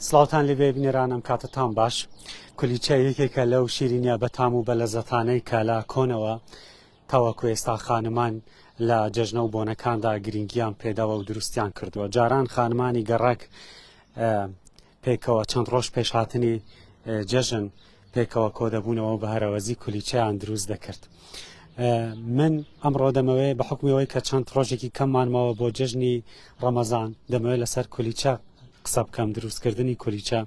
سڵاوان لێ بێبنێرانم کاتتان باش کولیچە یەکێکە لەو شیرینە بەتام و بە لە زەتانەی کە لە کۆنەوە تاوەکو ئێستا خانمان لە جەژنە و بۆنەکاندا گرنگیان پێداوە و دروستیان کردووە جاران خانمانی گەڕک پێکەوە چەند ڕۆژ پێش هاتنی جەژن پێکەوە کۆدەبوونەوە بە هەرەوەزی کولیچیان دروست دەکرد. من ئەمڕۆ دەمەوێ بە حکومیەوەی کە چەند ڕۆژێکی کەممانمەوە بۆ جژنی ڕەمەزان دەمەوێت لەسەر کولیچە قسە بکەم دروستکردنی کولیچە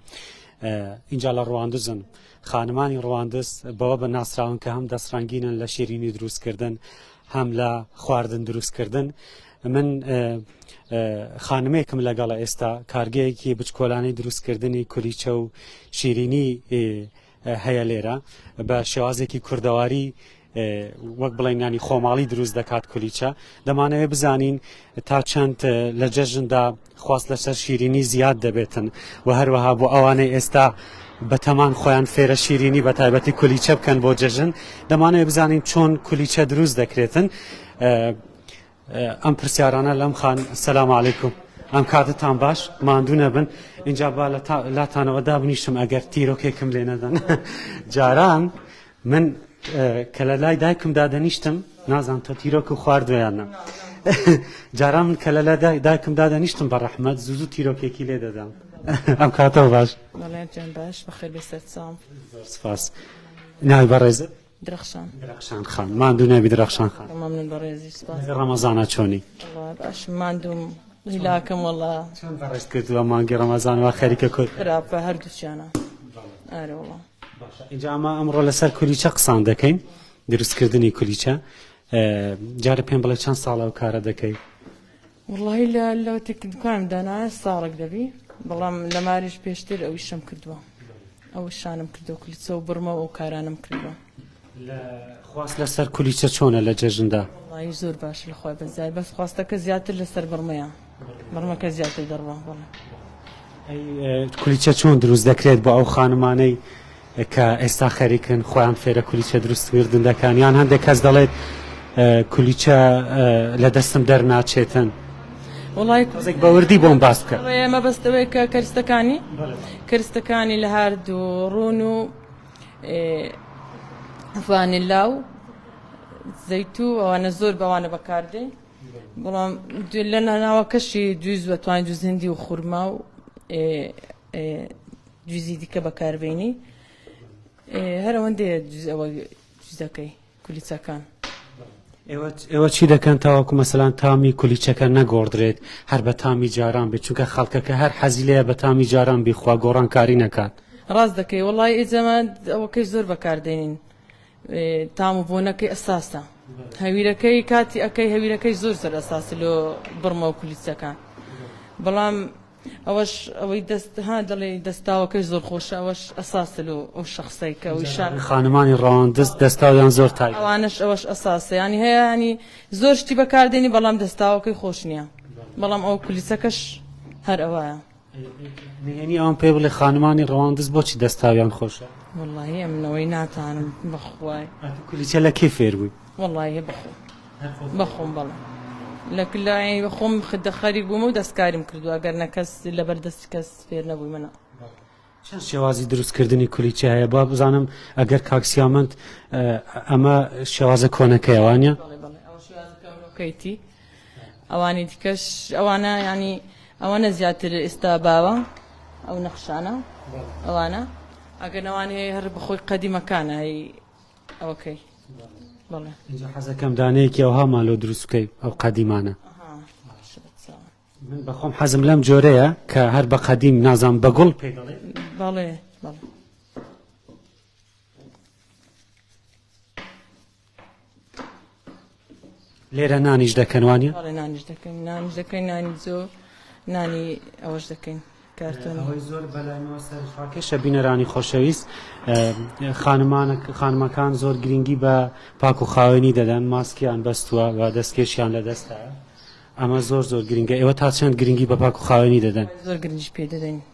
اینجا لە ڕواندزن خانمانی ڕواندز بەوە بە ناسراون کە هەم دەستڕنگینن لە شیرینی دروستکردن هەم لە خواردن دروستکردن من خانمێکم لەگەڵە ئێستا کارگەیەکی بچکۆلانەی دروستکردنی کولیچە و شیرینی هەیە لێرە بە شێوازێکی کوردەواری وەک بڵێنانی خۆماڵی دروست دەکات کولیچە دەمانەوێت بزانین تا چەند لە جەژندا خواست لەسەر شیرینی زیاد دەبێتن و هەروەها بۆ ئەوانەی ئێستا بەتەمان خۆیان فێرە شیرینی بە تایبەتی کولیچە بکەن بۆ جەژن دەمانەوێت بزانین چۆن کولیچە دروست دەکرێتن ئەم پرسیارانە لەم خان سەسلام عیکم ئەم کاتتان باش ماندوو نەبن اینجا با لاتانەوە دابنیشم ئەگەر تیرۆکێکم لێ نەدەن جاران من کە لە لای دایکم دادەنیشتم نازان تۆ تیرۆک و خواردویانە جاران من کە لە لای دایکم دادەنیشتم بە ڕەحمەت زوزو تیرۆکێکی لێ دەدەم ئەم کاتەوە باش باش بەخێر بێ سەرچاو سپاس ناوی بەڕێزت درەخشان درەخشان خان ماندوو نەبی درەخشان خان مەمنون بەڕێزی سپاس ڕەمەزانە چۆنی باش ماندوم هیلاکم وەڵا چۆن بەڕێز کردووە مانگی ڕەمەزان و خەریکە کورد خراپە هەردووچیانە ئارە وەڵا اینجا ئەمە ئەمڕۆ لەسەر کولیچە قسان دەکەین دروستکردنی کولیچە جارە پێم بڵێ چەند ساڵە و کارە دەکەیت وەڵاهی لە لەوەتێک کە دوکانم دانایە ساڵێک دەبی بەڵام لە ماریش پێشتر ئەو ئیشەم کردووە ئەو شانم کردو کلیچە و بڕمە و کارانم کردووە خواست لەسەر کولیچە چۆنە لە جەژندا وڵی زۆر باش لە خۆی بەزای بەس خواستەکە زیاتر لەسەر بڕمەیە بڕمەکە زیاتر دەڕوە بڵێ کولیچە چۆن دروست دەکرێت بۆ ئەو خانمانەی کە ئێستا خەریکن خۆیان فێرە کولیچە دروست وردن دەکەن یان هەندێک کەس دەڵێت کولیچە لە دەستم دەرناچێتن وڵای کوزێک بەوردی بۆم باس بکە ئێمە بەستەوەی کە کەرستەکانی کەرستەکانی لە هاردوو ڕون و فانلا و زەیتو ئەوانە زۆر بەوانە بەکاردێن بەڵام لە ناناوە کەشی دوی زوە توانین دوزیندی و خورما و جزی دیکە بەکاربینی هەرەوەندەیە جز ئەوە جزەکەی کولیچەکان ئێوە چی دەکەن تاوەکو مەسەلان تامی کولیچەکە نەگۆڕدرێت هەر بە تامی جاران بێت چونکە خەڵکەکە هەر حەزیلەیە بە تامی جاران بیخوا گۆڕان کاری نەکات ڕاست دەکەی وڵی ئێجەمان ئەوەکەی زۆر بەکاردێنین تام و بۆنەکەی ئەساسە هەویرەکەی کاتی ئەەکەی هەویرەکەی زۆر سەر ئەساس لۆ بڕمە و کولیچەکان بەڵام ئەوەش ئەوەی دەست ها دەڵێ دەستاوەکەی زۆر خۆشە ئەوەش ئەساسە لۆ ئەو شخصەی کە ئەوی شار خانمانی ڕەوان دەست دەستاویان زۆر تای ئەوانش ئەوەش ئەساسە ینی هەیە ینی زۆر شتی بەکاردێنی بەڵام دەستاوەکەی خۆش نییە بەڵام ئەو کولیسەکەش هەر ئەوەیە نهێنی ئەوان پێ بڵێ خانمانی ڕەوان دەست بۆچی دەستاویان خۆشە واللهی ئەمنەوەی ناتانم بەخوای کولیسە لە کێ فێر بووی وەڵاهی بەخۆم بەخۆم بەڵێ لە کلای خۆم خدە خەریک بووم و دەستکاریم کردو ئەگەر نە کەس لەبەر دەستی کەس فێر نەبووی منە چەند شێوازی دروستکردنی کولیچە هەیە با بزانم ئەگەر کاکسیامنت ئەمە شێوازە کۆنەکەیوانە کەیتی ئەوانی دیکەش ئەوانە ینی ئەوانە زیاتر ئێستا باوە ئەو نەخشانە ئەوانە ئەگەنەوان هەیە هەر بخۆی قەدیمەکانە هەی ئەوکەی بەڵێ اینجا حەزەکەم دانەیەکی ئەوها مالۆ دروستکەی ئەو قەدیمانە من بەخۆم حەزم لەم جۆرەیە کە هەر بە قەدیم نازان بە گوڵ پێ دەڵێ بەڵێ بەڵێ لێرە نانیش دەکەن وانە؟ بەڵێ نانیش دەکەین نانیش دەکەین نانی جۆ نانی ئەوەش دەکەین کارتۆنەوەی زۆر بەلایەوە سەرفاکەشە بینەرانی خۆشەویست خانمانە خانمەکان زۆر گرنگی بە پاک و خاوێنی دەدەن ماسکیان بەستووە و دەستکێشیان لە دەستە ئەمە زۆر زۆر گرنگە ئێوە تا چەند گرنگی بە پاک و خاوێنی دەدەن زۆر گرنگش پێ دەدەین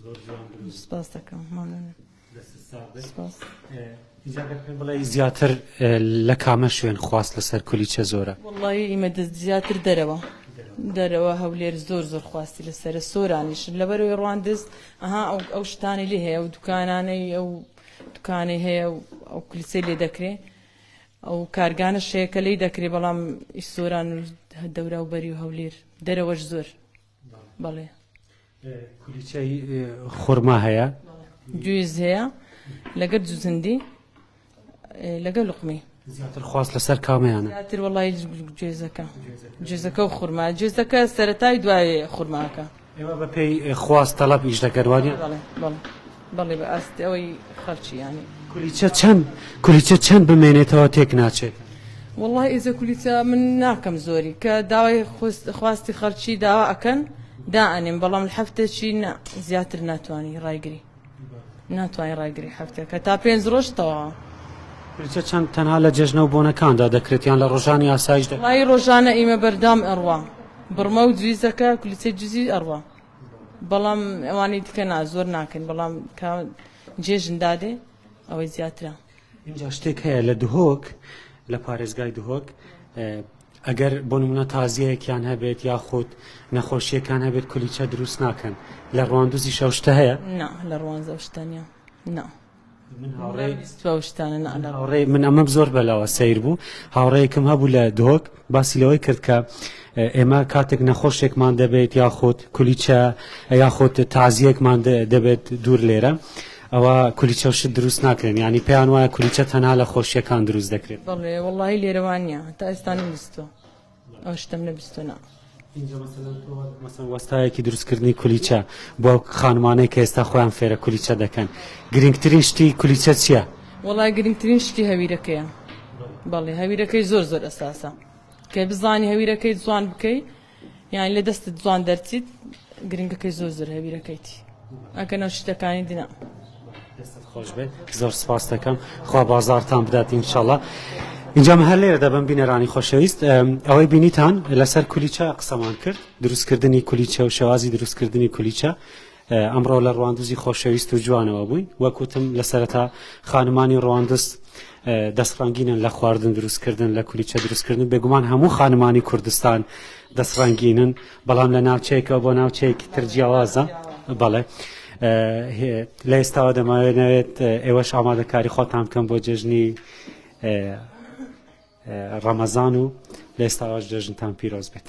زۆر جوان بوو سپاس دەکەم مەمنون سپاس ئینجا گەر پێم بڵێ زیاتر لە کامە شوێن خواست لەسەر کولیچە زۆرە وڵی ئیمە زیاتر دەرەوە دەرەوە هەولێر زۆر زۆر خواستی لەسرە سۆرانیش لەبەرەوەی ڕواندز ئەها ئەو ئەو شتانی لێ هەیە و دوکانانەی ئەو دوکانەی هەیە و ئەو کلیسەی لێ دەکرێت ئەو کارگانە شەیەکە لی دەکرێت بەڵام ئیسۆران و دەورا و بەری و هەولێر دەرەوەش زۆر بەڵێ کولیچەی خورما هەیە جوێز هەیە لەگەر جوزندی لەگەر لقمی زیاتر خواست لەسەر کامەیانە زیاتر وڵی جێزەکە جێزەکە و خورما جێزەکە سەتای دوای خورماکە ئێمە بەپێی خواست تەڵەب ئیش دەکەروانی بەڵێ بەڵێ بەڵی بە ئاستی ئەوەی خەرچی یانی. کولیچە چەند کولیچە چەند بمێنێتەوە تێک ناچێت. وەڵای ئێزە کولیچە من ناکەم زۆری کە داوای خواستی خەرچی داوا ئەکەن دائەنێم بەڵام لە هەفتێکی نا زیاتر ناتوانانی ڕایگری ناتوانانی ڕایگری هەفتێکە تا پێنج ڕۆژ تەواوە کولیچە چەند تەنها لە جەژنە و بۆنەکاندا دەکرێت یان لە ڕۆژانی ئاسایش دەڵی ڕۆژانە ئیمە بەردام ئەڕوا بڕمە و جویزەکە کولیچە جزی ئەڕوا بەڵام ئەوانەی دیکە نا زۆر ناکەن بەڵام کە جێژن دادێ ئەوەی زیاترە اینجا شتێک هەیە لە دهۆک لە پارێزگای دهۆک ئەگەر بۆ نمونە تازیەکیان هەبێت یاخود نەخۆشیەکان هەبێت کولیچە دروست ناکەن لە ڕواندوزی شەشتە هەیە لە ڕوانزە شتەنە نا. هاوڕێ من ئەمەم زۆر بەلاوە سیر بوو هاوڕێکم هەبوو لە دۆک باسی لەوەی کرد کە ئێمە کاتێک نەخۆشێکمان دەبێت یاخود کولیچە یاخود تازیەکمان دەبێت دوور لێرە. ئەوە کولیچە شت دروست ناکرێن ینی پێیان وایە کولیچە تەنها لە خۆشیەکان دروست دەکرێت بەڵێ وڵی لێرەوانە تا ئێستان ویستوە. ئاشتم لە بیستنا. مەسەن وەستایەکی دروستکردنی کولیچە بۆ خانمانەی کە ئێستا خۆیان فێرە کولیچە دەکەن گرنگترین شتی کولیچە چییە؟ وڵای گرنگترین شتی هەویرەکەیە بەڵێ هەویرەکەی زۆر زۆر ئەساسە کە بزانی هەویرەکەی جوان بکەیت یان لە دەستت جوان دەرچیت گرنگەکەی زۆر زۆر هەویرەکەیتی ئەگەنە شتەکانی دینا دەستت خۆش بێت زۆر سپاس دەکەم خوا بازارتان بدات ئینشاڵە اینجام هەر لێرە دەبم بینەرانی خۆشەویست ئەوەی بینیتان لەسەر کولیچە قسەمان کرد دروستکردنی کولیچە و شێوازی دروستکردنی کولیچە ئەمڕۆ لە ڕواندوزی خۆشەویست و جوانەوە بووین وەکوتم لە سەرەتا خانمانی ڕواندز دەستڕنگینن لە خواردن دروستکردن لە کولیچە دروستکردن بێگومان هەموو خانمانی کوردستان دەستڕنگینن و بەڵام لە ناوچەیەکەوە بۆ ناوچەیەکی تر جیاوازە بەڵێ لە ئێستاوە دەماوێت نەوێت ئێوەش ئامادەکاری خۆتان بکەم بۆ جێژنی ڕەمەزان و لە ئێستاواش جێژنتان پیرۆز بێت.